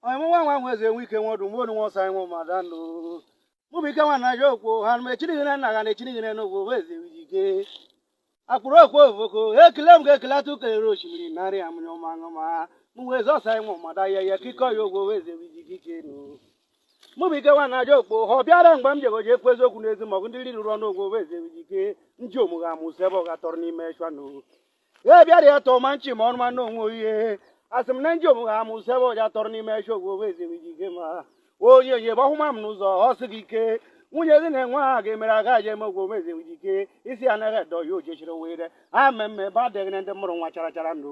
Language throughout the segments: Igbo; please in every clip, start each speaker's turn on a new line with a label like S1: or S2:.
S1: onye mụ nwa nwa nwe eze enwe ike nwe ọdụ mgbe onu nwa ọsayị nwe mmadụ anụ mụ bụ ike nwa na aja okwu ha nụ echinighị na nna ha na echinighị na n'ogwu bụ eze wiji ike akpụrụ okwu ovoko ekele m ga-ekele atụ kelere osimiri narị ya mụnye ọma aṅụ ma mụ wee eze ọsayị nwe mmadụ ahịa ya kikọ ya ogwu bụ eze wiji ike ike nụ mụ bụ ike nwa na aja okwu ha ọ bịara mgbe m jegoji ekwu eziokwu n'ezi maọbụ ndị riri ọnụ ogwu bụ eze wiji ike ndị omụgha amụsị ebe ọ ga-atọrọ n'ime eshu anụ e bịara ya tọọ ma nchi ma ọnụ ma nna onwe oyihe asị m na nji omume ha amụ sị ebe ọ ga-atọrọ n'ime eshu ogwu owe ezigbo iji ike ma onyenye gbahụma m n'ụzọ ọ sị gị ike nwunye gị na-enwe ha ga-emere aga je eme ogwu owe ezigbo iji ike isi anaghị edo ya ojechiri were ha mmemme ebe adịghị na ndị mụrụ nwa chara chara ndụ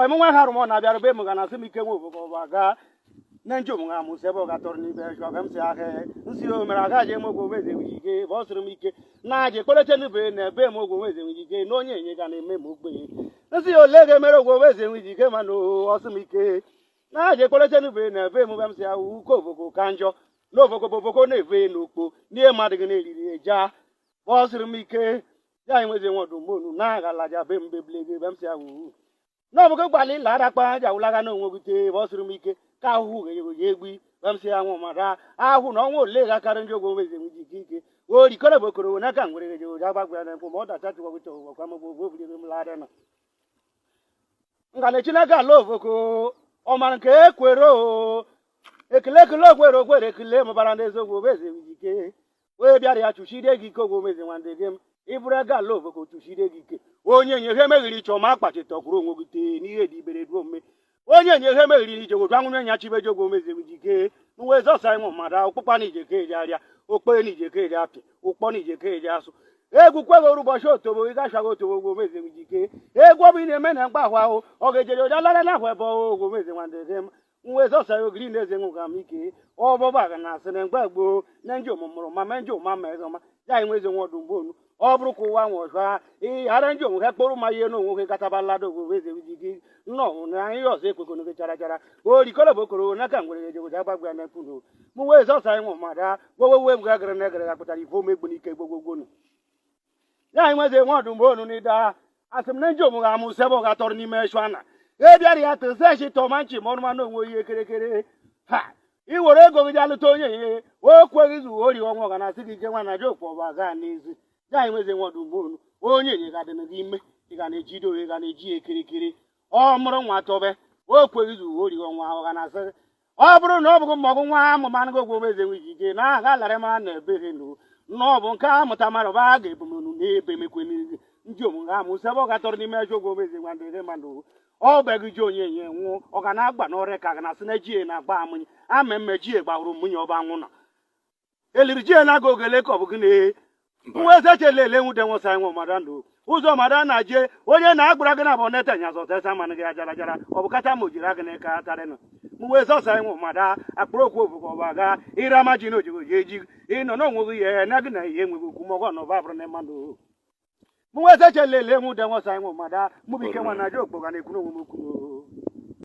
S1: ọmụnwa ha rụmọ na-abịara be m ga na-asị m ike nwe obodo ọba gaa na nje ụmụ ha mụsị ebe ọ ga-atọrọ n'ime eshu ka m si ahịa nsi o mere aga ji eme ogwe eze nwere ike bụ ọ sịrị m ike na aja ekpeleche nube na ebe m ogwe eze nwere ike na onyenye ga na-eme m ogbenye nsi ole ga-emere ogwe eze nwere ike mana ọ sị m ike na aja ekpeleche nube na ebe m ga m si ahụ uke obogo ka njọ na obogo bụ obogo na-eve n'okpo n'ihe mmadụ gị na-eriri eja ọ sịrị m ike ya anyị nwezi nwe ọdụ mgbonu na-aghalaja be mbe blege be m si ahụ na ọbụgo gbalị ịla arakpa aja wụlaga na onwe gị tee ebe ọ sịrị m ike ka ahụhụ ga-enyego ya egbi be m si ahụ ma raa ahụ na ọnwa ole ga-akarị ndị ogwe nwezi nwe ji ike ike o rikọrọ bụ okoro na aka ngwere ga jegoja gbagwa na nkwụ ma ọ dacha chụgwa gụcha ụgwọ kwa mgbe ogwe obiri m lara na ngana chineke ala ovoko ọmara nke ekwere o ekele ekele okwere okwere ekele mụbara ndị eziokwu obeze ike onye bịara ya chụchide gị ike ogwomezi nwandị gị m ịbụrụ ego ala ovoko chụchide gị ike onyenye ihe meghiri iche ọma akpachite ọkwụrụ onwe gị tee n'ihe dị ibere duo mme onyenye ihe meghiri ije gwoju anwụrụ nya chibeje ogwomezi gị jike nweze ọsayị nwe mmadụ ụkpụkpa na ije ka eji arịa okpee na ije ka eji apị ụkpọ na ije ka eji asụ egwu kweghị oru ụbọchị otobo ị gachaghị otobo ogwomezi gị jike egwu ọ bụ ị na-eme na mgba ahụ ahụ ọ ga-ejere ụja lara na ahụ ebe ọghụ ogwomezi nwandị gị m nweze ọsayị ogiri na-eze nwe ụgam ike ọbọba ga na asị na mgbe gboo na nje omụmụrụ ma ma nje ụma ma eze ọma ya anyị nwezi nwe ọdụ mgbe onu ọ bụrụ ka ụwa nwe ọzọ ha ịghara nje onwe ha kpọrọ ma ihe na onwe ha gataba lada ogwe eze ji gị nnọọ hụ na ihe ọzọ ekwekọnụ gị chara chara orikọrọ bụ okoro n'aka ngwere ya ejegoja agbagwa ya na mkpụrụ mụ nweze ọsayị nwe mmadụ gbowe wee m ga gara na egara ga pụtara ife omegbu n'ike gbogbogbo nụ ya anyị nweze nwe ọdụ mgbe onu n'ide ha asị m na nji omume amụ sị ebe ọ ga-atọrọ n'ime eshu ana e bịara ya tụ zechi tọma nchi ma ọnụmanụ onwe ihe kerekere ha i were ego gị jee lụta onyenye o kweghị zu ori ọnwa ọ ga na-asị gị ike nwa na aja okwu ọbụ aga n'ezi ya anyị nweze nwe ọdụ mgbe onu onyenye ga dịnụ gị ime ị ga na-eji do ị ga na-eji ya kirikiri ọ mụrụ nwa tọbe o kweghị zu ori ọnwa ọ ga na-asị ọ bụrụ na ọ bụghị mgbọgụ nwa amụma anaghị ogwogbo eze nwe iji ike na aha lara mara na ebere nụ na ọ bụ nke a mụta mara ba a ga-ebumunu n'ebe emekwe n'ihu ndị omume amụ sebe ọ gatọrọ n'ime ezi ogwogbo eze nwa ndịrị mmadụ ọ bịaghị ji onye enye nwụọ ọ ga na-agba n'ọrịa ka ga na-asị na ji na-agba amụnye ama mme ji gbahụrụ mụnye ọ bụ anwụ na eliri ji ya na-aga ogele ka ọ bụ gịnị nwa eze chele ele nwude nwụsa anyị nwe mara ndụ ụzọ mara na je onye na-agbara gị na bụ neta nya zọtesa mana gị ajara jara ọ bụ kacha ma o jiri agị n'aka tarịnụ mgbe zọsa anyị nwe mara akpụrụ okwu ofụkọ ọba ga ịra ma ji na ojigo ji eji ịnọ n'onwe gị ihe na gị na ihe enweghị okwu mọgọ na ọba bụrụ na mmadụ mgbe eze chele ele nwude nwụsa anyị nwe mara mụbụ ike nwa na je okpoga na-ekwu n'onwe m okwu